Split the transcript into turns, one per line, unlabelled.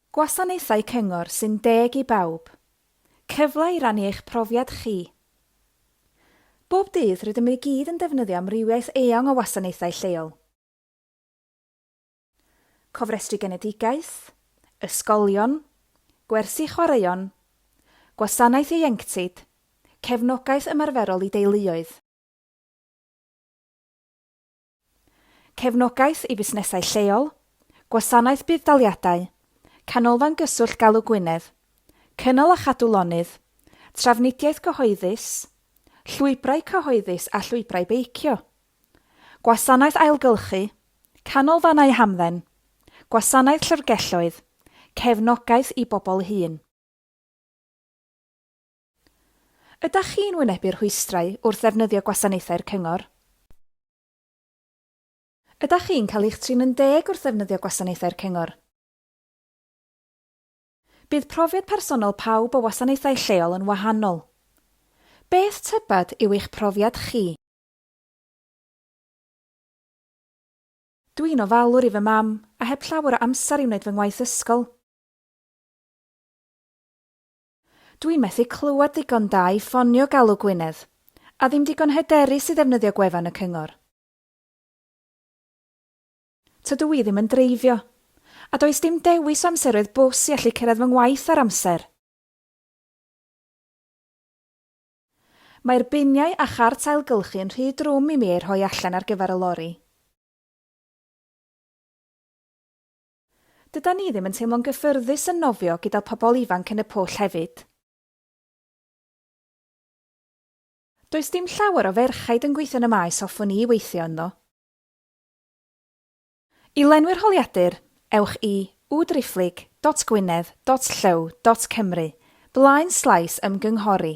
Gwasanaethau cyngor sy'n deg i bawb. Cyfle i rannu eich profiad chi. Bob dydd, rydym i gyd yn defnyddio amrywiaeth eang o wasanaethau lleol. Cofrestru genedigaeth, ysgolion, gwersi chwaraeon, gwasanaeth ieuenctid, cefnogaeth ymarferol i deuluoedd. Cefnogaeth i fusnesau lleol, Gwasanaeth Budd-daliadau, Canolfan Gyswllt Galw Gwynedd, Cynnal a Chadw Lonydd, Trafnidiaeth Gyhoeddus, Llwybrau Cyhoeddus a Llwybrau Beicio, Gwasanaeth Ailgylchu, Canolfannau Hamdden, Gwasanaeth Llyfrgelloedd, Cefnogaeth i Bobl Hŷn. Ydach chi'n wynebu rhwystrau wrth ddefnyddio gwasanaethau'r Cyngor? Ydach chi'n cael eich trin yn deg wrth ddefnyddio gwasanaethau'r Cyngor? Bydd profiad personol pawb o wasanaethau lleol yn wahanol. Beth tybed yw eich profiad chi? Dw i'n ofalwr i fy mam, a heb llawer o amser i wneud fy ngwaith ysgol. Dwi'n methu clywed ddigon da i ffonio Galw Gwynedd. A ddim digon hyderus i ddefnyddio gwefan y cyngor. Tydw i ddim yn dreifio. A does dim dewis o amseroedd bws i allu cyrraedd fy ngwaith ar amser. Mae'r biniau a chart ailgylchu yn rhy drwm i mi eu rhoi allan ar gyfer y lori. Dydan ni ddim yn teimlo'n gyffyrddus yn nofio gyda pobl ifanc yn y pwll hefyd. Does dim llawer o ferchaid yn gweithio yn y maes hoffwn i weithio ynddo. I lenwi'r holiadur, ewch i wwwdriphlyg dot gwynedd dot llyw dot cymru, blaen slaes ymgynghori.